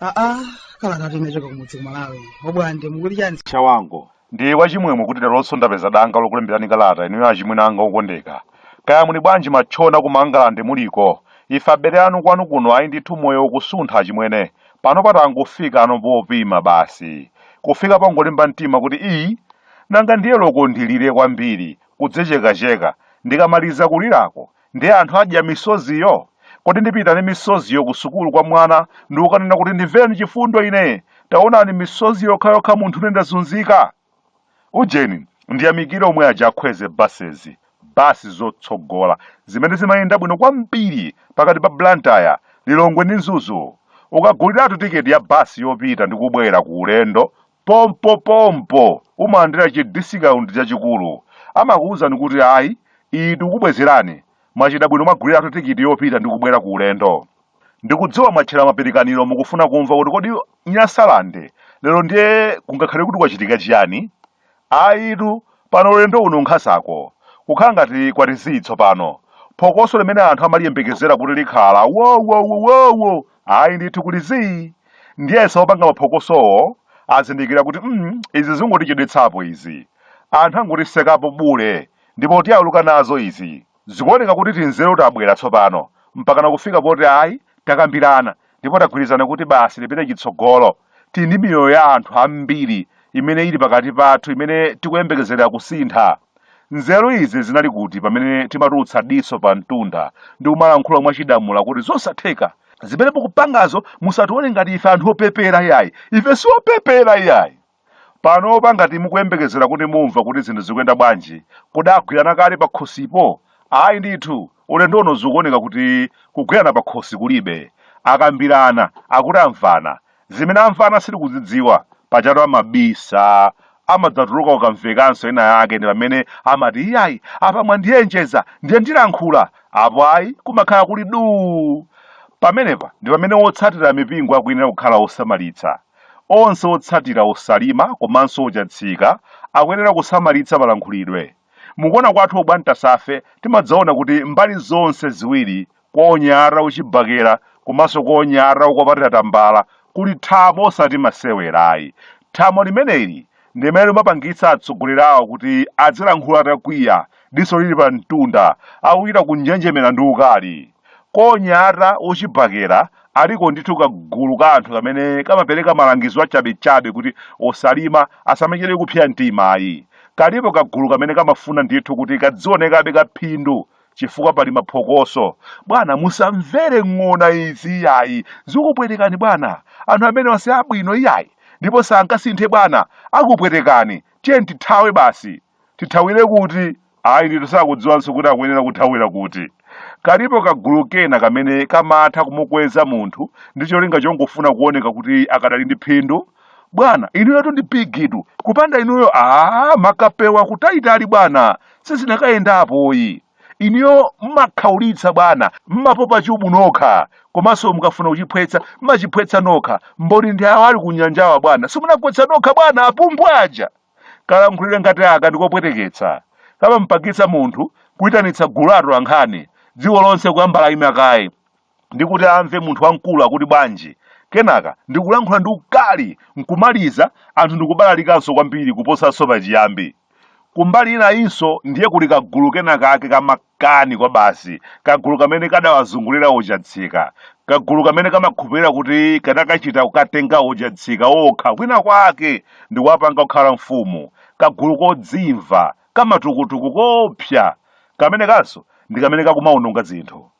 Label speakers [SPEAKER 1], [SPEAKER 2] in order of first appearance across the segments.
[SPEAKER 1] aa kalata inachoka kumudzi ku Malawi obwande mukuti chani chawango
[SPEAKER 2] Ndine wachimwemwe kuti leronso ndapeza danga lokulemberani kalata inuyo achimwene anga okondeka. Kaya muli bwanji matchona ku Mangalande muliko? Ife abele anu kwanu kuno ayi ndithu moyo ukusuntha achimwene. Panopa tangofikano popima basi. Kufika pongolimba mtima kuti ii! Nanga ndiye loko ndilire kwambiri, kudzechekacheka, ndikamaliza kulirako Ndiye anthu adya misoziyo? Kodi ndipita ndi misoziyo kusukulu kwa mwana ndi kukanena kuti ndimvereni chifundo ine, taonani misozi yokhayokha munthune ndazunzika? Ujeni, ndiyamikire omwe aja a Kwezy buses, bus zotsogola, zimene zimayenda bwino kwambiri pakati pa Blantyre, Lilongwe ndi Mzuzu. Ukaguliratu ticket ya bus yopita ndi kubwera ku ulendo Pompopompo umalandira chi discount chachikulu. Amakuuzani kuti ayi, iyi tikukubwezerani, mwachita bwino mwaguliratu tikiti yopita ndi kubwera ku ulendo. Ndikudziwa mwatchera mapirikaniro mukufuna kumva kuti kodi Nyasalande lero ndiye kungakhale kuti kwachitika chiyani? Ayitu, pano ulendo uno nkhasako, kukhala ngati kwati zii tsopano, phokoso limene anthu amaliyembekezera kuti likhala wowowowowo! Ayi ndithu kuli zii! Ndiyesa opanga maphokosowo azindikira kuti mm izi zingotichedwetsapo izi. Anthu angotisekapo bule ndipo tiyaluka nazo izi. Zikuoneka kuti tinzeru tabwera tsopano mpakana kufika poti ayi takambirana ndipo tagwirizana kuti basa lipite chitsogolo. Tili ndi miyoyo ya anthu ambiri imene ili pakati pathu imene tikuyembekezera kusintha. Nzeru izi zinali kuti pamene timatulutsa diso pa mtunda ndi kumalankhula mwa chidamula kuti zosatheka, zimene mukupangazo musatione ngati ife anthu opepera yayi, ife si opepera yayi. Panopa ngati mukuyembekezera kuti mumva kuti zinthu zikuyenda bwanji, kodi agwirana kale pakhosipo? Ayi ndithu. Ulendo uno zikuoneka kuti kugwirana pakhosi kulibe. Akambirana, akuti amvana. Zimene amvana sitikuzidziwa, pajatu amabisa. Amadzatuluka kukamvekanso ina yake ndi pamene amati iyayi apa mwandiyenjeza ndiye ndilankhula. Apo ayi kumakhala kuli duu. Pamenepa ndi pamene otsatira mipingo akuyenera kukhala osamalitsa. Onse otsatira Osalima komanso Ochatsika akuyenera kusamalitsa malankhulidwe. Mukuona kwathu obwantasafe timadzaona kuti mbali zonse ziwiri kwa onyara ochibakera komanso kwa onyara okwapatira tambala kuli thamo osati masewera ayi. Thamo limeneli ndi limene limapangitsa atsogoleri awo kuti adzilankhula atakwiya, diso lili pamtunda, akuchita kunjenjemera ndi ukali. Konyata wochibakera aliko ndithu kagulu ka anthu kamene kamapereka malangizo achabechabe kuti osalima asamachedwe kupsya mtima ayi. Kalipo kagulu kamene kamafuna ndithu kuti kadzionekabe ka phindu chifukwa pali maphokoso. Bwana musamvere ng'ona izi iyayi, zikupwetekani bwana. Anthu amenewa si abwino iyayi ndipo sangasinthe bwana, akupwetekani. Tiyeni tithawe basi. Tithawire kuti? Ayi ndithu sakudziwanso kuti akuyenera kuthawira kuti. Kalipo kagulu kena kamene kamatha kumukweza munthu ndi cholinga chongofuna kuoneka kuti akadali ndi phindu. Bwana, inuyotu ndi bigitu, kupanda inuyo aah makapewa kutaitali bwana, sizinakayendapo ayi. Inuyo mmakhaulitsa bwana, mmapopa chubu nokha komanso mukafuna kuchiphwetsa mmachiphwetsa nokha. Mboni ndi awa ali kunyanjawa bwana, simunagwetsa nokha bwana apumbwa aja! Kalankhulidwe ngati aka ndi kopweteketsa. Kamampangitsa munthu kuitanitsa gulu la atolankhani dziko lonse kuyamba laima kaye ndi kuti amve munthu wamkulu akuti bwanji, kenaka ndi kulankhula ndi ukali n'kumaliza anthu ndi kubalalikanso kwambiri kuposanso pachiyambi. Kumbali inayinso ndiye kuli kagulu kenakake ka ma Kani kwabasi, kagulu kamene kadawazungulira oChatsika, kagulu kamene kamakhupirira kuti kanakachita kukatenga oChatsika okha kwina kwake ndikuwapanga kukhala mfumu, kagulu kodzimva, kamatukutuku koopsa kamenekanso ndi kamene kakumaononga zinthu.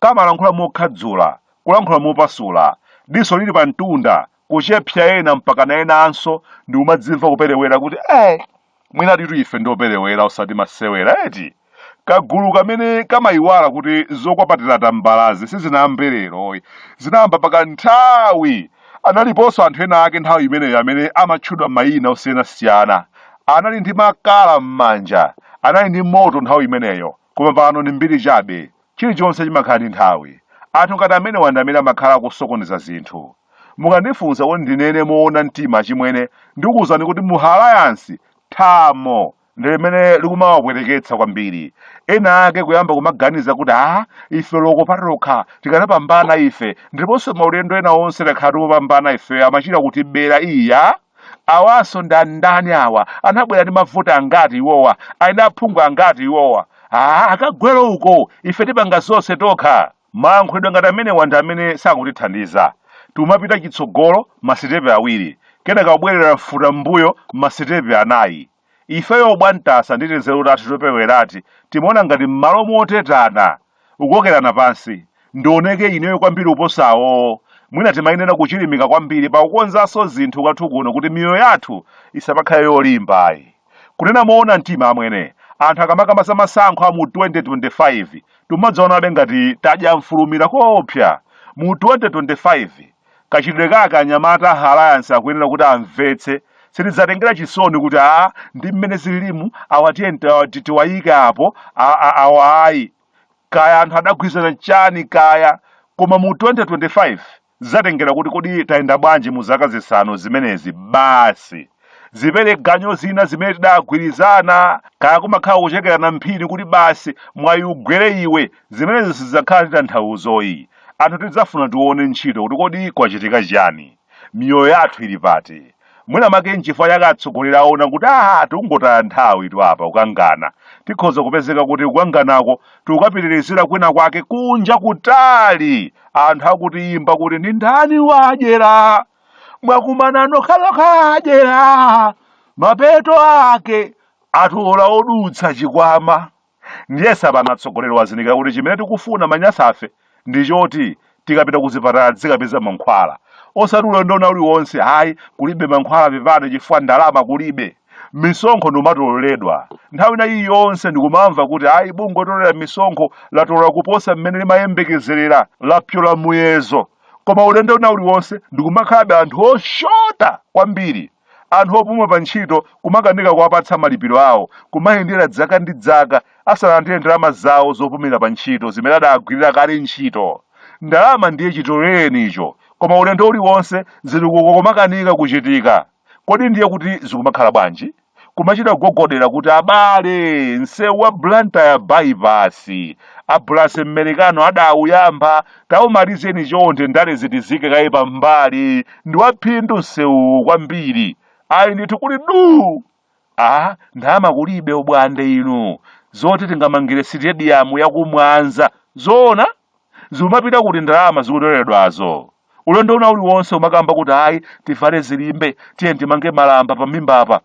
[SPEAKER 2] Kamalankhula mokhadzula, kulankhula mopasula, diso lili pamtunda, kuchepsa ena mpakana enanso ndikumadzimva kuperewera kuti eh! mwinatitu ife ndi operewera osati masewera eti kagulu kamene kamayiwala kuti zokwapatira tambalazi sizinayambe lero zinayamba pakanthawi analiponso anthu ena ake nthawi imeneyo amene amatchedwa mayina osiyanasiyana anali ndi makala m'manja anali ndi moto nthawi imeneyo koma pano ndi mbiri chabe Chilichonse chimakhala ndi nthawi. Anthu ngati amenewa ndi amene amakhala akusokoneza zinthu. Mukandifunsa kuti ndinene moona mtima achimwene, ndikuuzani kuti mu Alliance thamo ndi limene likumawapweteketsa kwambiri. Ena ake kuyamba kumaganiza kuti aah ife loko patokha tikanapambana ife ndiponso maulendo ena onse takhala tikupambana ifeyo amachita kutibera iyaa! awanso ndi andani awa anabwera ndi mavoti angati iwowa ali ndi aphungu angati iwowa ah akagwere uko ife tipanga zonse tokha mayankhulidwe ngati amenewa ndi amene sakutithandiza tikumapita chitsogolo masitepe awiri kenaka kubwerera mfuta m'mbuyo masitepe anayi ifeyo Bwantasa ndi tinzeru tathu topewerati timaona ngati m'malo motetana kukokerana pansi ndioneke ineyo kwambiri kuposa awowo mwina timayenera kuchilimika kwambiri pakukonzanso zinthu kwathu kuno kuti miyoyo yathu isamakhale yolimba ayi kunena moona mtima amwene anthu akamakamba zamasankho a mu 2025 timadzaonabe ngati tadya mfulumira koopsa mu 2025 Kachitidwe kake anyamata a Alliance akuyenera kuti amvetse, sitidzatengera chisoni kuti a ndi mmene zililimu awa tiyeni ta- ti- tiwayike apo a- a- awa ayi kaya anthu adagwirizana chani kaya koma mu 2025 zidzatengera kuti kodi tayenda bwanji mu zaka zisanu zimenezi basi zimene maganizo zina zimene tidagwirizana kaya kumakhala kuchekerana mphini kuti basi mwayi ugwere iwe zimenezo sizidzakhala ndi tanthauzoyi anthu tidzafuna tione ntchito kuti kodi kwachitika chiyani miyoyo yathu ili pati mwina make nchifukwa chake atsogoleri aona kuti aha tikungotaya nthawi tu apa kukangana tikhoza kupezeka kuti kukanganako tikukapitirizira kwina kwake kunja kutali anthu akutiimba kuti ndi ndani wadyera mwakumana nokhalokha adyera mapeto ake atola odutsa chikwama ndiyesa pano atsogoleri wazindikira kuti chimene tikufuna manyasafe ndi choti tikapita kuzipatala tizikapeza mankhwala osati ulendo wina uliwonse ayi kulibe mankhwala pepani chifukwa ndalama kulibe misonkho ndikumatoleredwa nthawi ina iliyonse ndikumamva kuti ayi bungwe lotolera misonkho latola kuposa mmene limayembekezerera lapyola muyezo koma ulendo wina uliwonse ndikumakhalabe anthu oshota kwambiri anthu opuma pa ntchito kumakanika kuwapatsa malipiro awo kumayendera dzaka ndi dzaka asanalandire ndalama zawo zopumira pa ntchito zimene adagwirira kale ntchito ndalama ndiye chitolereni icho koma ulendo uliwonse zitukuko kumakanika kuchitika kodi ndiye kuti zikumakhala bwanji kumachita kugogodera kuti abale msewu wa blantyre bypass abulasi mmerikano adauyamba taumalizeni chonde ndale zitsike kaye pambali ndi waphindu msewuwu kwambiri ayi ndithu kuli duu aa ndalama kulibe ubwande inu zoti tingamangire sitediyamu yakumwanza zoona zikumapita kuti ndalama zikutoleredwazo? ulendo wina uliwonse kumakamba kuti ayi tivale zilimbe tiyeni timange malamba pamimbapa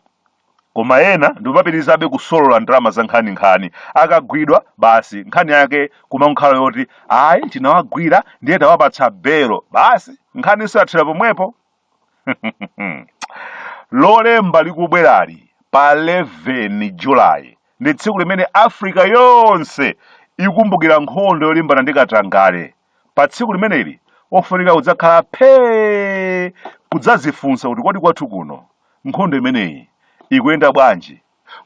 [SPEAKER 2] koma ena ndikumapitirizabe kusolola ndalama za nkhaninkhani akagwidwa basi nkhani yake kumakhala yoti ayi tinawagwira ndiye tawapatsa belo basi nkhani ikuthera pomwepo lolemba likubwerali pa 11 julayi ndi tsiku limene africa yonse ikumbukira nkhondo yolimbana ndi katangale pa tsiku limeneli ofunikira kudzakhala phee kudzazifunsa kuti kodi kwathu kuno nkhondo imeneyi ikuyenda bwanji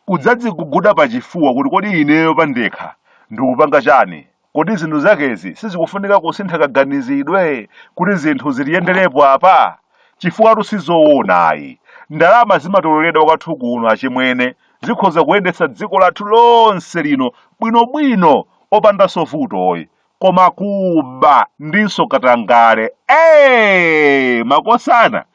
[SPEAKER 2] kudzadziguguda pachifuwa kuti kodi ineyo pandekha ndikupanga chani? Kodi zinthu zakezi sizikufunika kusintha kaganizidwe kuti zinthu zitiyenderepo apa? Chifukwatu sizoona ayi. Ndalama zimatoleredwa kwathu kuno achimwene zikhoza kuyendetsa dziko lathu lonse lino bwinobwino opandanso vutoyi. Koma kuba ndinso katangale ee! Makosana!